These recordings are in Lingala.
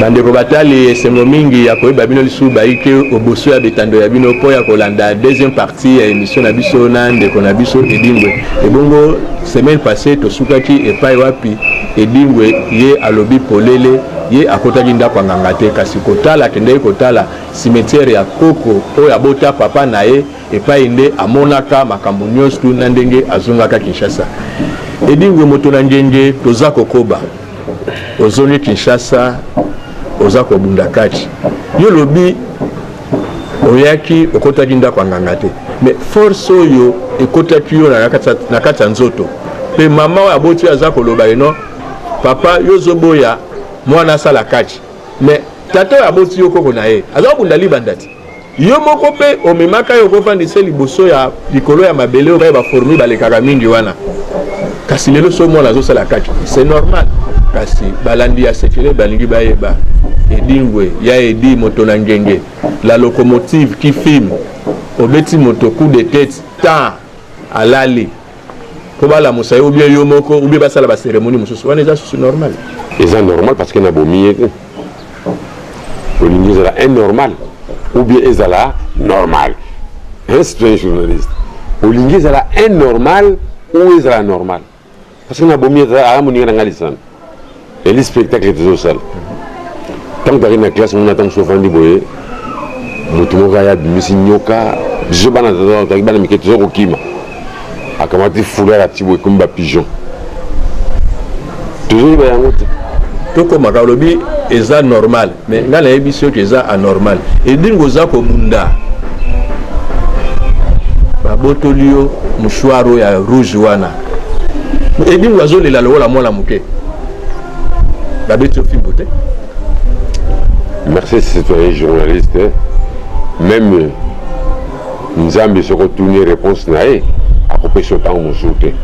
Bandeko batali, esengo mingi ya koyeba bino lisusu baike oboso ya betando ya bino mpo ya kolanda deuxième partie ya emission na biso na ndeko na biso Edingwe. Ebongo semaine passée tosukaki epai wapi Edingwe ye alobi polele ye akotaki ndako ya nganga te kasi kotala akendeki kotala cimetière ya koko oyo abota papa na ye epai nde amonaka makambo nyonso na ndenge azongaka Kinshasa. Edingwe moto na ngenge toza kokoba. ozongi kinshasa oza kobunda kati yo olobi oyaki okotaki ndako ya nganga te mais force oyo ekotaki yo na kati ya nzoto mpe mama oyo aboti oyo aza koloba eno papa yo ozoboya mwana asala kati mais tata oyo aboti yo koko na ye aza kobunda libanda te Yo moko mpe omemaka ye okofandisa ye liboso ya likolo ya mabele oyo ba fourmis balekaka mingi wana kasi lelo so mwana azosala kati c'est normal kasi balandi ya sekele balingi bayeba edingwe ya edi moto na ngenge la locomotive qui filme obeti moto coup de tete temps alali mpo balamusa ye obie yo moko obie basala baseremoni mosusu wana eza susu normal eza normal parce que nabomi ye te olingi ezala innormal obie ezala normal un citoyen journaliste olingi ezala innormal ou ezala normal parce que nabomi ye aya moninga na ngai lisano Eli spectacle tozo sala. Tant que na classe mona tant sofandi boye mutu moko ya bimisi nyoka biso bana tozo tozo bana mike tozo kokima. Akamati foulard ya tibo ekomi ba pigeon. Tozo ba yango te. Toko maka lobi eza normal. mais nga nayebi soki eza anormal edingo oza kobunda babotoli yo mouchoir oyo ya rouge wana edingo azolela lokola mwana moke babeti yo fimbo te merci citoyen journaliste meme nzambe soki otuni réponse na ye akopesa yo ntango mosusu te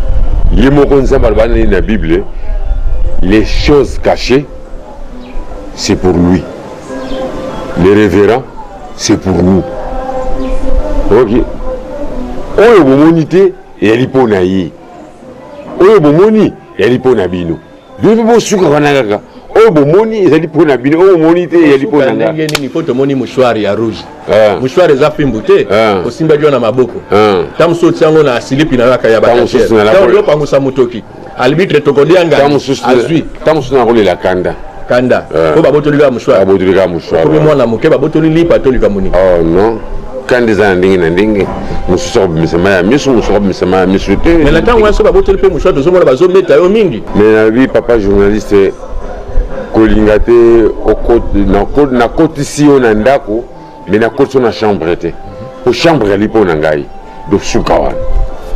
ye moko nzambe alobani na bible les choses cachées c'est pour lui le révérend c'est pour nous ok oyo bomoni te eyali mpo na ye oyo bomoni eyali mpo na bino bino mpe bosuka wana kaka oyo bomoni ezali mpo na bino oyo omoni te ezali mpo na ndenge nini mpo tomoni mouchoir ya rouge ah. mouchoir eza fimbu te ah. osimbaki yo na maboko ah. ntango mosusu otiango na silipi na yaka ya bataopangusa motoki Albitre tokolia ngai. Tango susu azui. Tango susu na kolela kanda. Kanda. Eh. Ko babotoli ka mushwa. Babotoli ka mushwa. Ko mwana muke babotoli lipa toli ka muni. Oh non. Kanda eza na ndenge na ndenge. Mususu ko bimisa mai ya misu, mususu ko bimisa mai ya misu te. Mais na tango wana babotoli pe mushwa tozo mona bazo beta yo mingi. Mais na bi papa journaliste kolinga te okoti na kotisi yo na ndako mais nakotiso na chambre te po chambre ezali mpo na ngai dosuka wana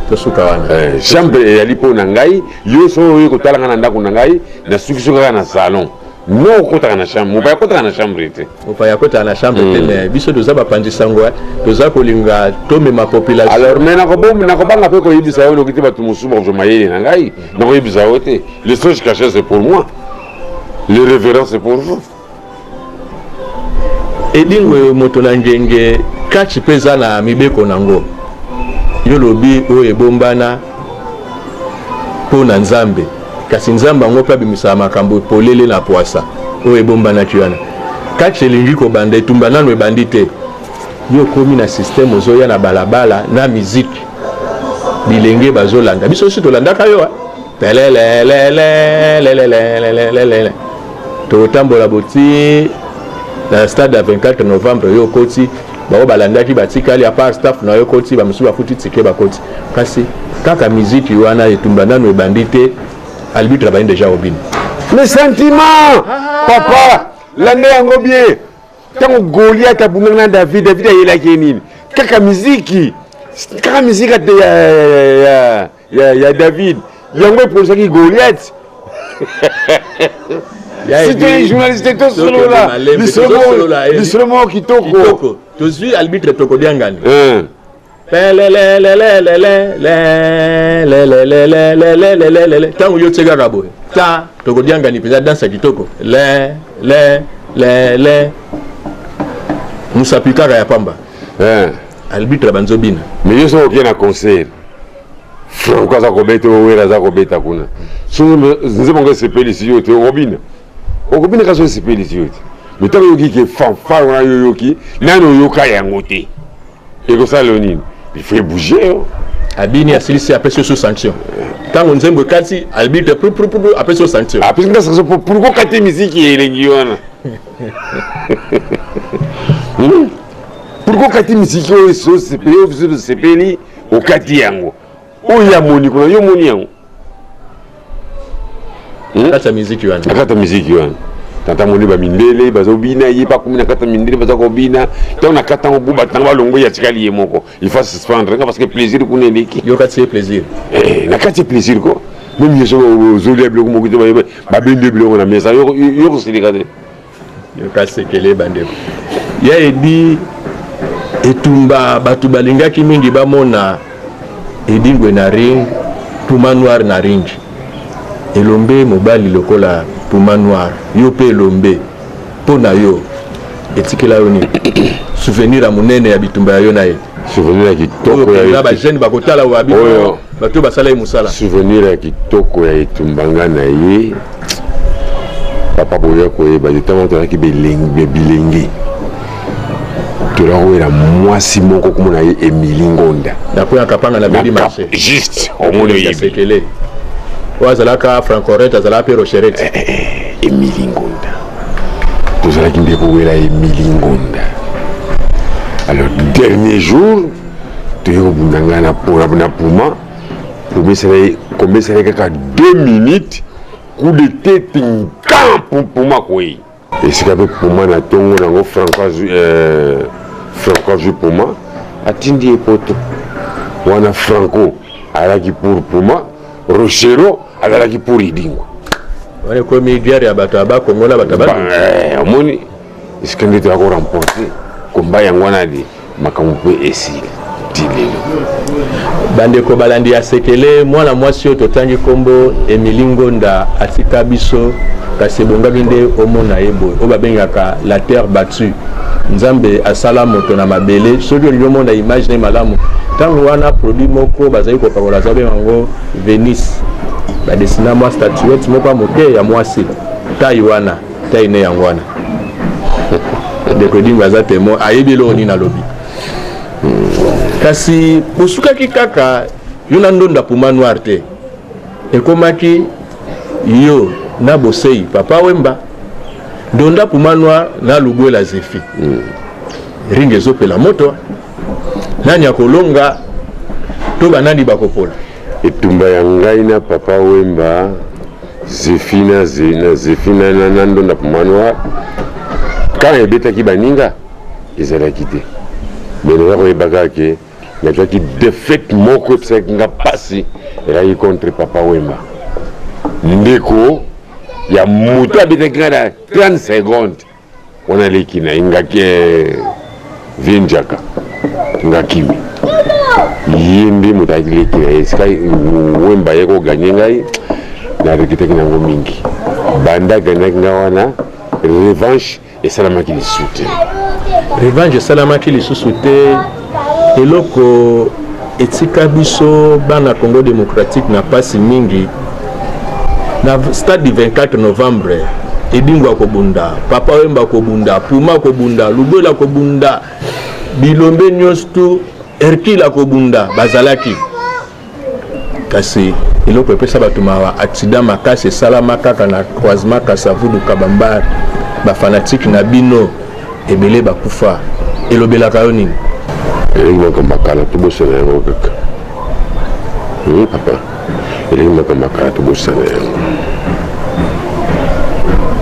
tosuka wana eh, chambre ezali mpo na ngai yo soki oye kotala ngai na ndako na ngai nasukiso kaka na salon no okotaka na chambre mopaya akotaka na chambre te mopaya akotaka na chambre te hmm. mais biso toza bapanzi sango eh. toza kolinga tomema population alors mais nakobanga mpe koyebisa yo noki te bato mosusu bakozwa mayele na ngai nakoyebisa yo te le soge cache c'est pour moi le révérence c'est pour vous edingwe moto na ngenge kati mpe eza na mibeko na yango yo lobi oyo ebombana mpo na nzambe kasi nzambe yango mpe abimisaka makambo polele na pwasa oyo ebombanaki wana kati elingi kobanda etumba nano ebandi te yo okomi na systeme ozoya na balabala na miziki bilenge bazolanda biso osi tolandaka yo pelelelelelelelelelele tokotambola boti na stade ya 24 novembre yo okoti bango balandaki batikali apart staff na yo ekoti bamosusu bafuti tike bakoti kasi kaka miziki wana etumba nano ebandi te albitre abandi deja obino mais sentiment papa landa yango bien ntango goliat abundaki na david david ayelaki ye nini kaka miziki kaka miziki ya ya, ya david yango epolisaki goliath sitoi journaliste tosolola lisolo moko kitoko tozwi albitre tokodiangani ntango yo tie kaka boye ta tokodiangani mpenza dansa kitoko le le le le mosapi kaka ya pamba arbitre ya banzobina mais yo soki oke na concert franco aza kobeta owera aza kobeta kuna nzembo ngo esepelisi yo te okobina okobina kasi esepelisi yo te mais ntango oyoki ke fanfare wana yo oyoki nani oyoka yango te ekosala yo nini il faut ebouge yo abini asilisi apesi yo sous sanction ntango nzembo ekati arbitre pruprupru apesi yo sanction apesi nga sanction pourkokate miziki elengi wana pourkui okati misiki oyo esosepeli oyo biso tosepeli okati yango oyo ya moni kuna yo omoni yango hmm? kati ya miziki wana akata miziki wana tata moni bamindele bazobina ye bakomi na kati ya mindele baza kobina ntango na kati yango buba ntango balongwe ya tikali ye moko il faut suspendre nga parce que plaisir kuna eleki yo kati ye plaisir eh, na kati ye plaisir ko meme ye soki ozoli ya biloko moko te babendi ye biloko na mesa yo kosilika te yoka sekele bandeko ya edi etumba bato balingaki mingi bamona edingwe na ring puma noir na ring elombe mobali lokola puma noir yo mpe elombe mpo na yo etikela yo nini souvenir ya monene ya bitumba ya yo na ye souvenir ya kitoko ya bajeune bakotala wabi bato basala ye mosala souvenir ya kitoko ya etumba nga na ye papa boya koyeba te ntango tozalaki bilenge tolakowela mwasi moko komona ye emili ngonda juste omoni oyebi oyo azalaka francoret azalaka mpe rocheret eh, eh, eh, emili ngonda tozalaki nde kowela emili ngonda alors dernier jour toyei kobunda ngai na puma komesana ye kaka 2 minutes coup de tete nkan pumpuma koye esika mpe puma na ntongo nango franco azwi euh, franco azwi puma atindi ye poto wana franco alaki pour puma rochero azalaki pour idingo wana ekomi guerre ya bato ya bakongo na bato ya omoni Esika nde toya ko remporter combat yango wana de makambo mpe esili ti lelo. Bandeko balandi ya sekele, mwana mwasi oyo totangi nkombo Emily Ngonda atika biso kasi ebongaki nde omona ye boye oyo babengaka la terre battue nzambe asala moto na mabele soki olingi omona image na ye malamu ntango wana produit moko bazali kopakola aza benga yango venise badesina mwa statuette moko ya moke ya mwasi tai wana taille ne yango wana ndeko edingo aza temoin ayebi eloko nini alobi kasi bosukaki kaka yo na ndondo ya puma noir te ekomaki yo na bosei papa wemba ndonda puma noir na lubwela zefi mm. ringa ezopela moto nani akolonga to banani bakopola etumba ya ngai na papa wemba zefina na zefina na ndonda manoir kan ebetaki baninga ezalaki te me naza koyebaka ke nazwaki defete moko episaki nga mpasi elaki contre papa wemba ndeko ya moto abetaki nga na 30 seconde Wana leki na ye ngaki eh, vie njaka ngakimi ye nde moto ayaki leki na ye sika wemba ye koganye ngai nareketaki nango mingi banda aganaki ngai wana revanche esalamaki lisusu te revanche esalamaki lisusu te Eloko etika biso bana Congo démocratique na pasi mingi na stade du 24 novembre edingo akobunda papa wemba akobunda puma akobunda lubela akobunda bilombe nyonso tu hercule akobunda bazalaki kasi eloko epesa bato mawa accident makasi esalama kaka na croisement kasavudu kabambar bafanatike na bino ebele bakufa elobelaka yo nini elingi moko makala tobosana yango kaka papa elingi moko makala tobosana yango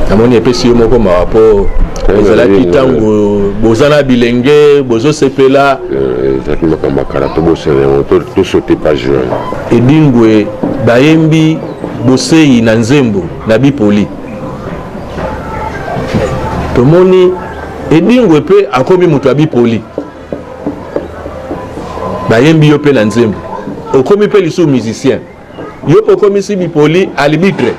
namoni epesi yo moko mawa mpo ezalaki ntango boza na bilenge bozosepela eh, ezalaki makambo akala tobosana yango tosote page wana edingwe bayembi boseyi na nzembo na bipoli tomoni edingwe mpe akomi moto ya bipoli bayembi yo mpe na nzembo okomi mpe lisusu musicien yo pe okomisi bipoli alibitre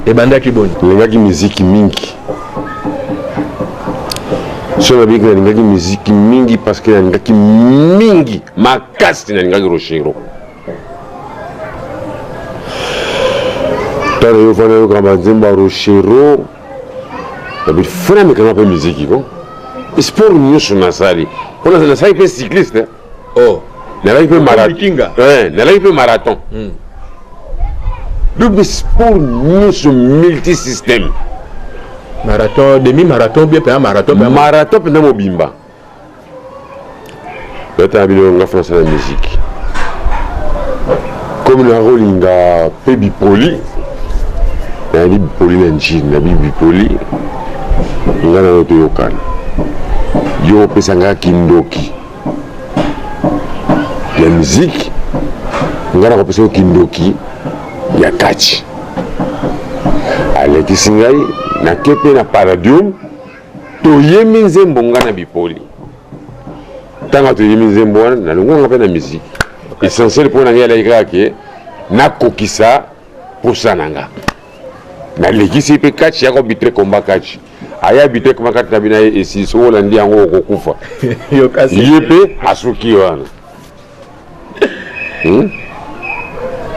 ebandaki boni nalingaki miziki mingi so nabiki nalingaki miziki mingi parce que nalingaki mingi makasi nalingaki rochero tala yo fana yoka banzembo ya rochero nabi fana mekanga mpe miziki ko sport nyonso nasali mpo nasali mpe cycliste oh nalaki mpe marathon eh, nalaki mpe marathon hmm. donc sport nyonso multisystème marathon demi marathon bien mpenza marathon marathon mpenza mobimba natala bino nga français na musique comme nakolinga mpe bipoli nayebi bipoli na njini nayebi bipoli nga nayo toyokana yo opesa nga kindoki ya miziki ngai nakopesa yo kindoki ya kati alekisi ngai nake mpe na paradium toyemi nzembo ngai na bipoli ntango toyemi nzembo wana nalongwanga mpe na miziki essentiel mpo na ngai alaki kaka ke nakokisa mposa na nga nalekisi mpe kaci yako bitre komba kaci aya bitek makati na bino aye esi soki olandi yango okokufa ye mpe asuki wana hmm?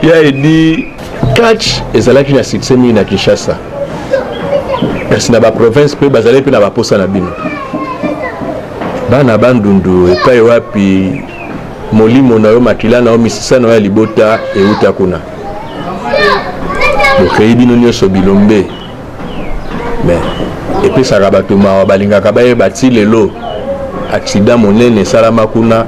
ya edi catch ezalaki na succès mingi na kinshasa kasi na baprovince mpe bazali mpe na baposa na bino bana bandundu epai wapi molimo na yo makila na yo misisa na yo ya libota euta kuna bokei bino nyonso bilombe me epesaka bato mawa balingaka bayeba ti lelo aksida monene esalama kuna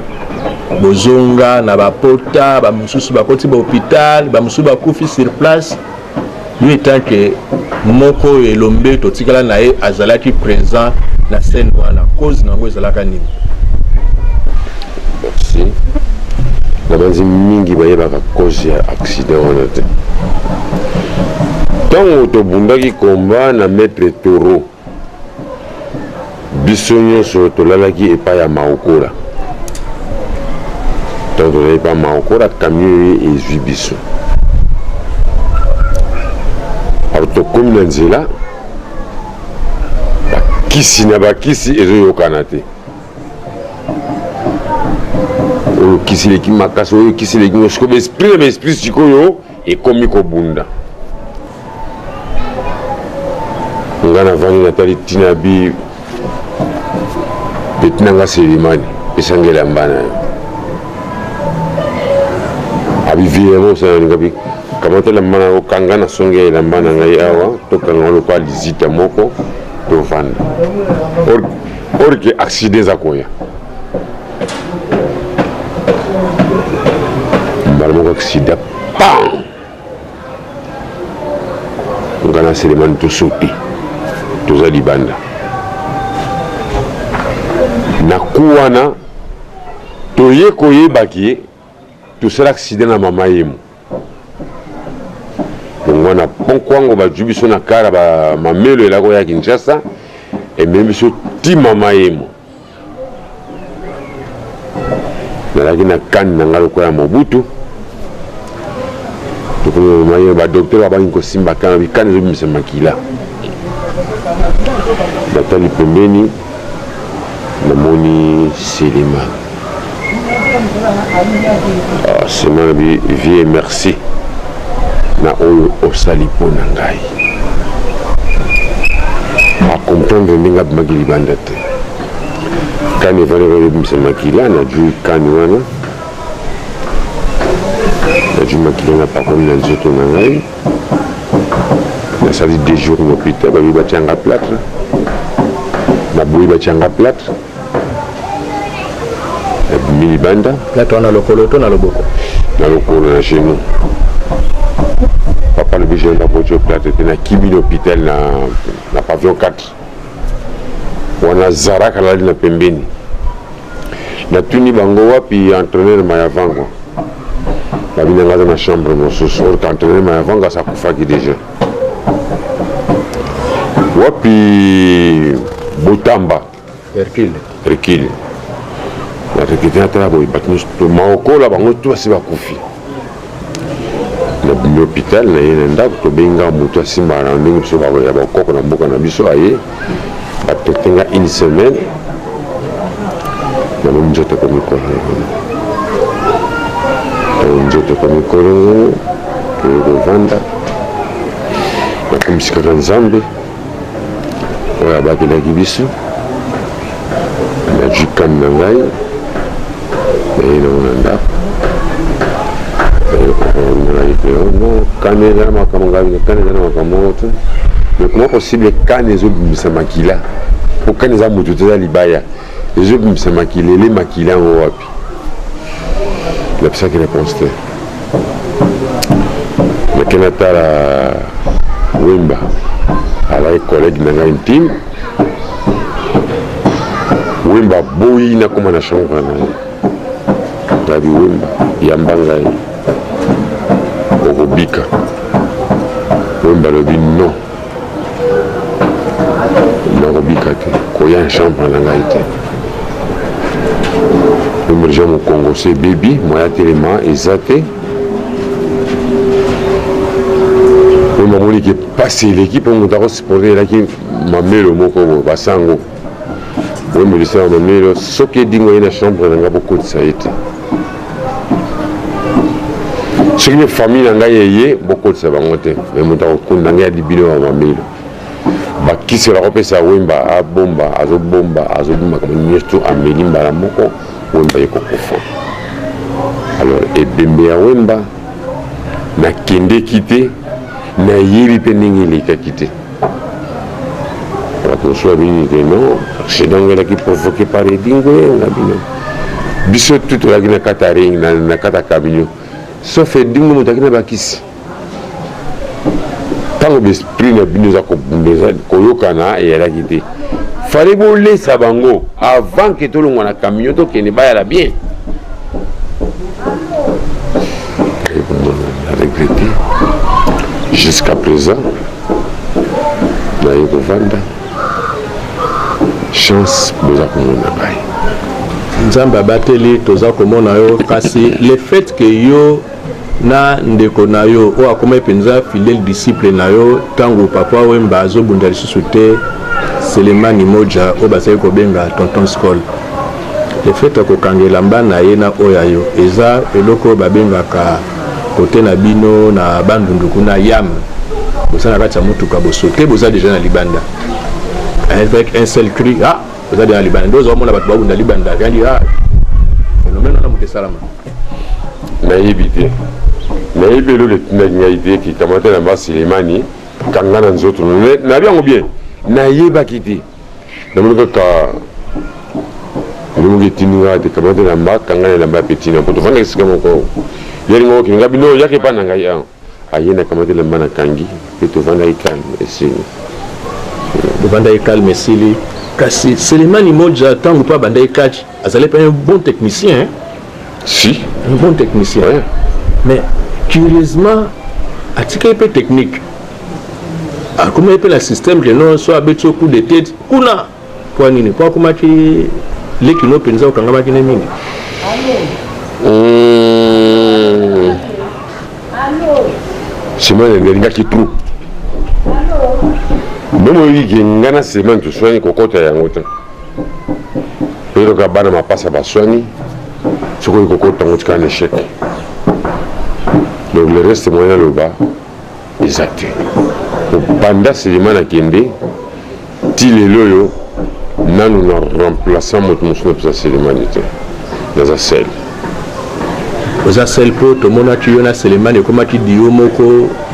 bozonga na bapota bamosusu bakoti bahopital bamosusu bakufi sur place yo etanke moko oyo elombe totikala na ye azalaki présent na scène wana cause na yango ezalaka nini Merci. nabanzi mingi bayebaka cause ya accident wana te ntango tobundaki komba na maître toro biso nyonso tolalaki epai ya maokola ntango tozali epai ya maokola kamio ye ezwi biso alors tokómi na nzela bakisi na bakisi ezoyokana te oyo kisi leki makasi oyo kisi leki ngo sikoyo baesprit na baesprit sikoyo ekomi kobunda nga navandi natali ntina ya bi peti na nga selimani esanga elamba na yo abivilema osana nalinga bi kamata elamba na yo kanga na songe ya elamba na ngai awa tokanga lokola lizita moko tovanda or que accident eza koya mbala moko accident pam nga na selemani tosopi toza libanda na ku wana toye koyebaki ye Tosala accident na mama yemo longwa na pont kwango bajui biso na kara ba mamelo elako ya kinshasa ememi biso ti mama yemo nazalaki na kani na ngai lokola ya mobutu badoktere babaki kosimba kani bikani ezobimisa makila natali pembeni namoni silima ah, sima nabi vie merci na oyo osali mpo na ngai akomprendre ndenge abimaki libanda te kani efandaki ebimisa makila najui kani wana najui makila na pakoli na nzoto na ngai nasali deux jours na hôpital babi batya nga plâtre naboyi batya nga plâtre nabimi libanda plâtre wana lokolo to na loboko na lokolo na genou papa lobi genou na botyo plâtre te nakimi na hôpital na, na pavillon 4 wana zarak alali na pembeni natuni bango wapi entraîneur mayavangwa babinanga aza na chambre mosusu or que entraîneur mayavangwa asi akufaki déjà wapi botamba Hercule. Hercule. Na recruter ata ya boye bato nyonso to maokola bango to basi bakufi. Nabimi hôpital na ye na ndako tobengi nga moto asimba na ndenge biso ya bakoko na mboka na biso aye bapete nga une semaine nabomi nzoto ekomi kolongono nzoto ekomi kolongono toye kovanda nakomisikaka nzambe oyo abatelaki biso na jukani na ngai naye nango na ndako yango kani eza na makambo ngai kani eza na makambo moko te me koma kosible kani ezobimisa makila mpo kani eza moto te eza libaya ezobimisa makila ele makila yango wapi napisaki réponse te nake natala wemba alaki collègue na ngai intime wemba boyi nakoma na chambre na ye ngabi wemba yamba ngai okobika wemba alobi non nakobika te koya na chambre na ngai te emergent mokongo se bebi moya telema eza te oyo mamoni ke mpasi eleki mpo moto akosupporte elaki mamelo moko boye basango Yo musicien ya mamilo soki edingo ye na chambre na nga bokotisa ye te soki mpe famille na ngai eye bokotisa bango te me moto akokunda ngai adi bino ya mamilo bakisi bakopesa wemba abomba azobomba azobomba kama nyonso ameli mbala moko wemba ye kokufa alors ebembe ya wemba nakendeki te nayebi mpe ndenge elekaki te bakosuwa bini te non accident ngo elaki provoqué par edingo na bino biso tu tolaki na kata ring na kata camion sauf edingo moto aki na bakisi ntango besprit na bino eza kobunda eza koyokana eyalaki te fale bolesa bango avant ke tolongwa na camion tokende bayala bien regrete jusqu'à présent naye kovanda chance boza komona baye nzambe abateli toza komona yo kasi le fait ke yo na ndeko na yo oyo akomaki mpenza fidèle disciple na yo ntango papa wemba azobunda lisusu te selemani moja oyo bazali kobenga tonton scol le fait ya kokanga elamba na ye na oyo ya yo eza eloko oyo babengaka Cote na bino na Bandundu kuna yam boza na kati ya motuka bosote boza deja na libanda avec un seul cri ah boza deja na libanda nde ozomona bato babunda libanda yandi ah phénomène wana moto esalama nayebi te nayebi eloko etindaki ngai te kikamata na basilemani kanga na nzoto nayebi yango bien nayebaki te namoni kaka elimo ketindi ngai te kamata elamba kanga na elamba ya petina mpo tofanda esika moko yeli moko kende ngai bino oyaki epai na ngai awa aye na kamata elamba na kangi mpe tofandaki kalme esili tofandaki kalme esili kasi selemani moja ntango mpe abandaki catch azali mpe un bon technicien si un bon technicien ouais. mais curieusement atikaki mpe technique akomaki mpe na système ke non so abeti yo coup de tete kuna mpo nini mpo akomaki leki no mpenza okangamaki ne mingi hmm. simon elingaki trop meme oyoki ke ngai na simon toswani kokɔta yango te eloka bana mapasa baswani soki oyi kokɔta yango tika na échec donc le reste moyen aloba eza te obanda selema na kende ti lelo oyo nanu na remplaçant moto mosusu na pesa selemani te naza sel oza sel mpo tomonaki yo na selemani ekomaki dio moko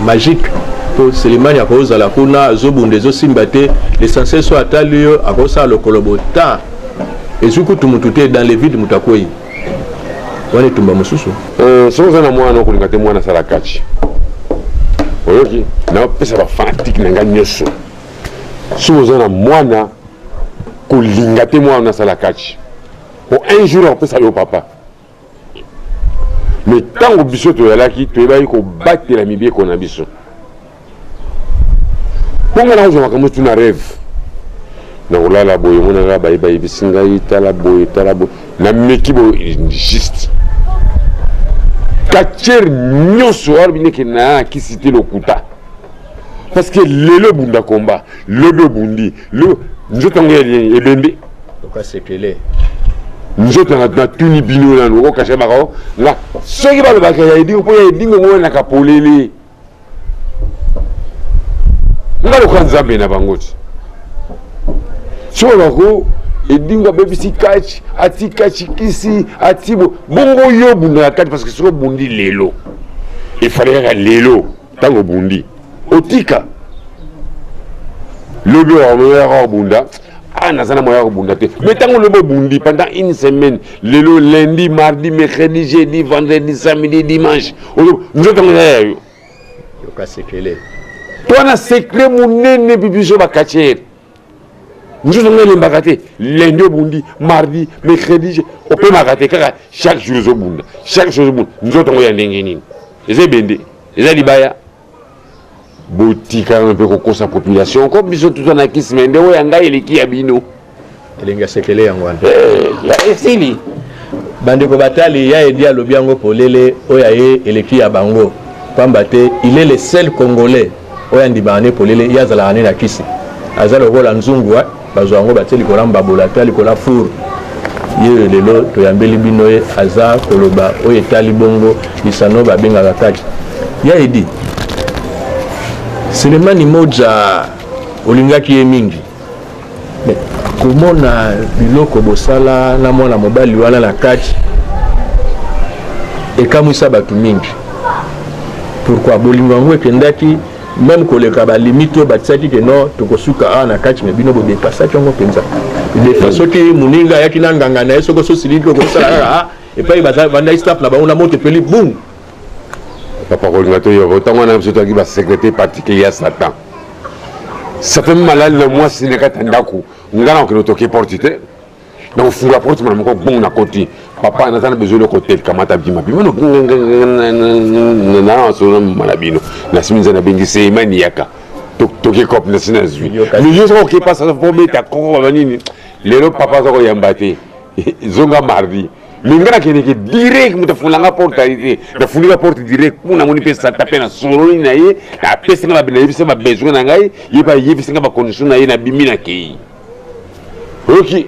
magique mpo selemani akozala kuna azobunda ezosimba te l'essentiel so atali yo akosala lokolo bota ezwi kutu motu te dans le vide moto akwei wana etumba mosusu eh, soki oza na mwana okolinga te mwana asala kachi oyoki napesa bafanatike na ngai nyonso soki oza na mwana kolinga te mwana asala kachi po un jour akopesa yo papa me ntango biso toyalaki toyebaki kobatela mibeko na biso mpo ngai nakozwa makambo tu na rêve nakolala boye yango na ngai baye bayebisi ngai tala boye tala boye nameki boye juste katiere nyonso wana bineke nayakisi te lokuta parce que lelo ebunda komba lobi obundi nzoto yango ebembe nzoto natuni bino nanu okokasha bako nga soki balobaka ya edingo mpo ya edingo ngo nakapolele nga lokola nzambe na bango ti soloko edingo abebisi kachi ati kachi kisi ati bongo yo obunda na kati parce que soki obundi lelo efale kaka lelo ntango obundi otika lobi okomoyaka obunda ah naza na moya kobunda te mais ntango olobi obundi pendant une semaine lelo lundi mardi mercredi jeudi vendredi samedi dimanche nzoto yango eza ya yo yoka sekele twana secret monene bibiso bakatiere nzoto yango elembaka te lundi obundi mardi mercredi opemaka te kaka chaque jour ozobunda chaque jour ozobunda nzoto yango ya ndenge nini eza ebende eza libaya Botika nanu pe kokosa population ko biso tuza na kisi me nde oyo ya ngai eleki ya bino. Elengi ya sekele yango wana. Eh, ya esili. Bandeko batali ya edi alobi yango polele oyo aye eleki ya bango pamba te il est le seul congolais oyo andimaka ne polele ye azalaka ne na kisi aza lokola nzungu bazwa yango batie likolo ya mbabola to ya likolo ya four ye lelo toyambeli bino ye aza koloba oyo etali bongo lisano babengaka kati ya edi selemani moja olingaki ye mingi komona biloko bosala na mwana mobali wana na kati ekamwisa bato mingi pourkui bolingo yango ekendaki meme koleka ba limite oyo batiaki ke non tokosuka awa na kati me bino bodepasaki yango mpenza defa soki moninga ayaki na nganga na ye soki ososiliki okosala kaka ah, epai bavandaki staff na bango na moto epeli bum papa kolinga toyoka ntango wana biso toyaki basekretere particulier ya satan sape malali na mwasi na kati ya ndako ngai na kokende toke porte te na kofungola porte mbala moko bongo nakoti papa naza na besoin eloko te kamata bima bima naasolo mama na bino nasimi nza nabengi seima niyaka toki cop nasi nazwi milieu soko okepa sasa po obeta koko baba nini lelo papa aza koyamba te zonga mardi minga nakendeke direct moto afungolanga porte aye te nafungika porte direct mpo namoni mpe sata mpe nasololi na ye apesi nga babinayebisa babesoin na ngai ye bayebisi nga bacondition na ye nabimi nakei oyoki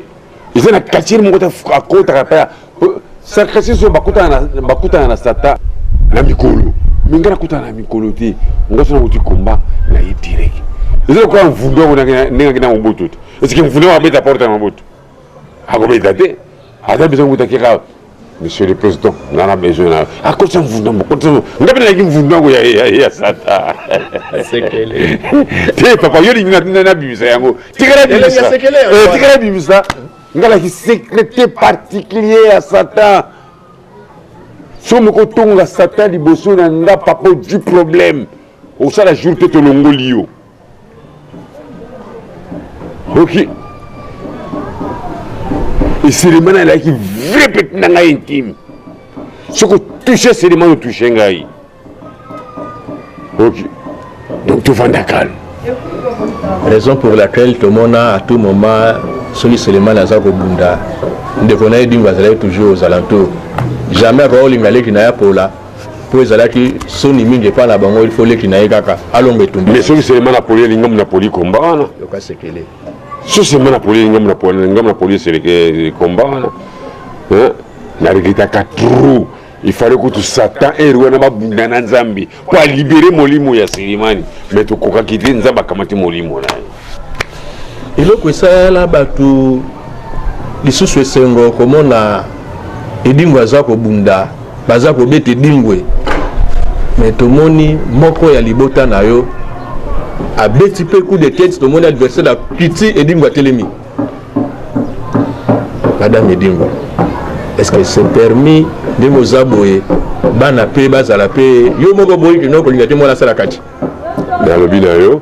eza na quartier moko akotaka mpe sarkasi so bakutana na sata na mikolo me ngai nakutana na mikolo te ngai so nakuti komba na ye direct eza lokola mvundu yango ndenge akenda mobutu te esike mvundu yango abeta porte ya mobutu akobeta te aza biso mobutu akeka Monsieur le Président, n'a la besoin là. À cause d'un voudon, à cause d'un voudon. N'a pas de voudon, ya ya ya sata. Sekele. T'es papa, yo li n'a n'a bimisa yango. Tikala bimisa. Eh, tikala bimisa. N'a la sécurité particulier à Satan. Somo ko tonga Satan liboso na nga papa du problème. Osala jour te tolongoli yo. oki esilema na elaki vrai peti na ngai intime soki otouche esilema na otouche ngai oki donc tovanda calme raison pour laquelle tomona à tout moment soki selemani aza kobunda ndeko na ye dingo azalaki toujours aux alentours jamais akoki kolinga leki na ye apola mpo ezalaki soni mingi epai na bango ilfo leki na ye kaka alonga etumbi mais soki selema na poli elingamu na poli komba wana yoka sekele so selema na poli elingamu na poli elingamu na poli eseleke komba wana na regretaka trop il fallait kutu satan ere wana babunda na nzambe mpo alibere molimo ya selemani mais tokokaki te nzambe akamati molimo na ye eloko esala bato lisusu esengo komona edingwe aza kobunda baza kobeta edingwe me tomoni moko ya libota na yo abeti mpe coup de tete tomoni adversaire akiti edingwe atelemi madame edingwe est-ce que c'est permis ndenge oza boye bana mpe bazala mpe yo moko boyi kino kolinga te mwana asala kati nalobi na yo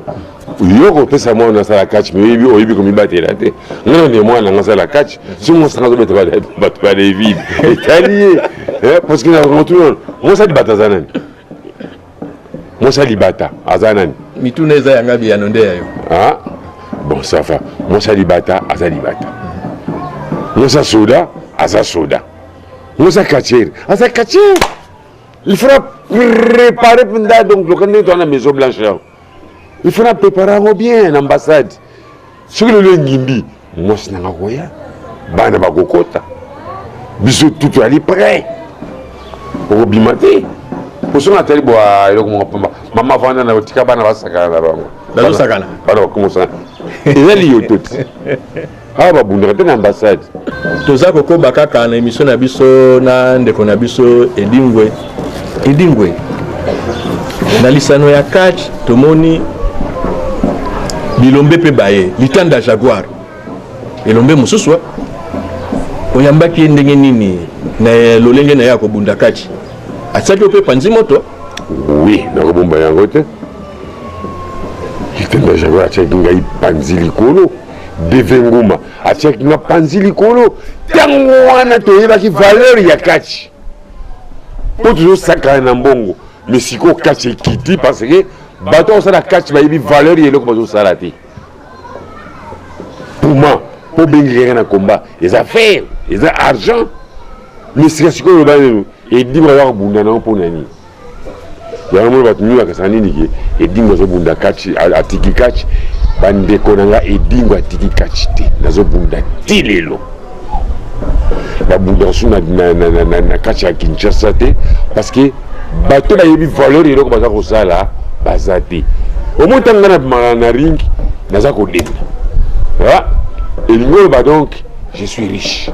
yo kopesa mwana oyo asala catch me oyebi oyebi komibatela te ngai nani mwana nanga asala catch soki mosanga azobeta bato ba david etali ye eh, parceke na motuna mosa libata aza nani mosa libata aza nani mituna eza yanga biyano nde ya yo ah, bon safa mosa libata aza libata mosa soda aza soda mosa kachere aza kachere il faudra préparer mpenza donc loka ndenge toana maison blanche yango il faut na prépare yango bien na ambassade soki lelo engimbi mwasi nanga koya bana bakokota biso tutu ali près okobima te osonga atali bwa eloko moko pamba mama vanda na otika bana basakana na bango bana bakomosana eza liyoto te awa babundaka mpe na ambassade toza kokoba kaka na emission na biso na ndeko na biso edingwe edingwe na lisano ya catch tomoni bilombe mpe baye litanda jaguar elombe mosusu oyambaki ye ndenge nini na lolenge na ye ya kobunda kati atiaki ope panzi moto wi nakobomba yango te litanda jaguar atiaki ngai panzi likolo Deve Nguma atiaki nga panzi likolo ntango wana toyebaki valeur ya kachi mpo tozosakana na mbongo mais sikoyo kachi ekiti parce que bato akosala kachi bayebi valeur ya eloko bazosala te puma mpo obengekaka na komba eza fer eza argent mais sika sikoyo olobani edi baza kobunda nango mpo na nini yango mona bato mingi bakasa nini ke edingo azobunda kati atiki kati bandeko na ngai edingo atiki kati te nazobunda ti lelo babundaka su na kati ya kinshasa te parce que bato bayebi valeur eloko baza kosala baza te omo ntango ngai na ringi naza kodenda elingi oloba donc Je suis riche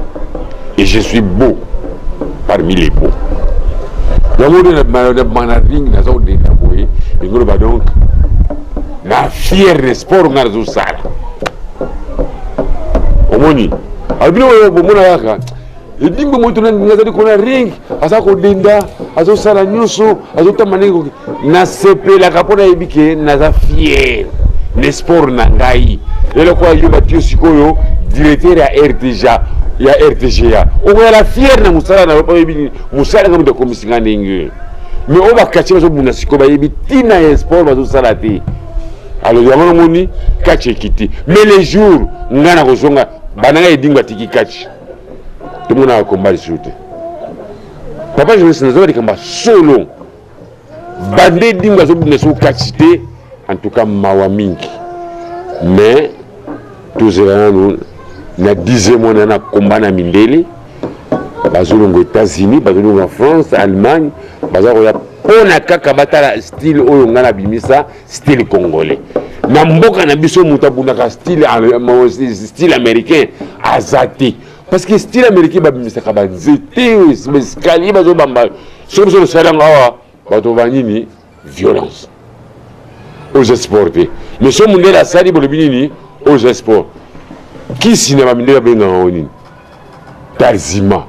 et je suis beau parmi les beaux. yango nde na manaring naza kodenda boye engoloba donc na fiere na sport ngai nazosala omoni abino oyo bomona kaka edimbe moto nazali kona ring aza kodenda azosala nyonso azotamba ndenge koki nasepelaka mpo nayebi ke naza fier na sport na ngai eloko ayo batio sikoyo directeur ya rtga ya rtga okoyala fier na mosala na yo mpo oyebi nini mosala nga moto akomisi nga ndenge mais oyo bakati bazobunda sikoyo bayebi ntina ya sport bazosala te alors yango namoni kati ekiti mais le jour ngai nakozonga bana ngai edingo atiki kati tomonaka komba lisusu te papa journaliste nazoba likambo ya solo bande dingo azobunda soko kati te en tout cas mawa mingi mais tozela nanu na dixième wana na komba na mindele bazolonga états-unis bazolonga france allemagne baza koya mpona kaka batala style oyo ngai nabimisa style congolais na mboka na biso moto abundaka style américain aza te parce que style américain babimisaka banzete baescalier bazobamba soki biso tosali yango awa bato ba nini violence oza sport te mais so mondele asali bolobi nini oza sport kisi na bamindele abengaka yango nini tarzima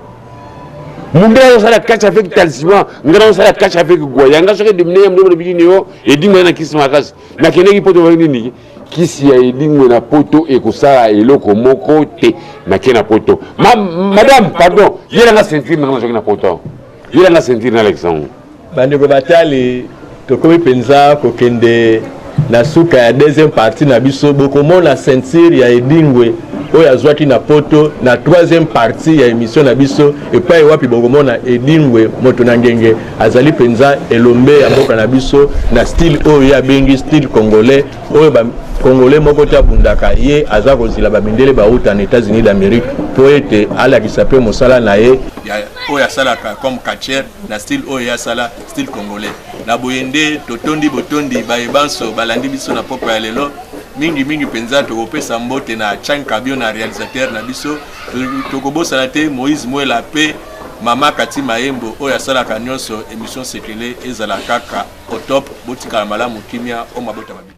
mundele azosala catch avec tarzima ngai nazosala catch avec gwaya ngai soki edimine ya mundele bolobi nini yo edimina na kisi makasi nakendeki poto nini kisi ya edingwe na poto ekosala eloko moko te nake na poto ma, madame pardon yelanga ceinture nanga nazoki na poto yelanga ceinture na alexandre bandeko batali tokomi mpenza kokende na suka ya deuxième partie na biso bokomona ceinture ya edingwe oyo azwaki na poto na troisième partie ya émission na biso epai wapi bokomona edingwe moto na ngenge azali mpenza elombe ya mboka na biso na style oyo ye abengi style congolais oyo ba congolais moko te abundaka ye aza kozila bamindele bauta na états-unis d'amérique mpo ete alakisa mpe mosala na ye oyo asalaka comme catcher na style oyo ye asala style congolais na boye nde totondi botondi baye banso balandi biso na pokwa ya lelo mingi mingi mpenza tokopesa mbote na chan kabio na realisateur na biso tokobosana te moïse mwela mpe Maman Cathy Mayembo oyo asalaka nionso emission Sekele ezala kaka au top botikala malamu kimia o mabota mabe.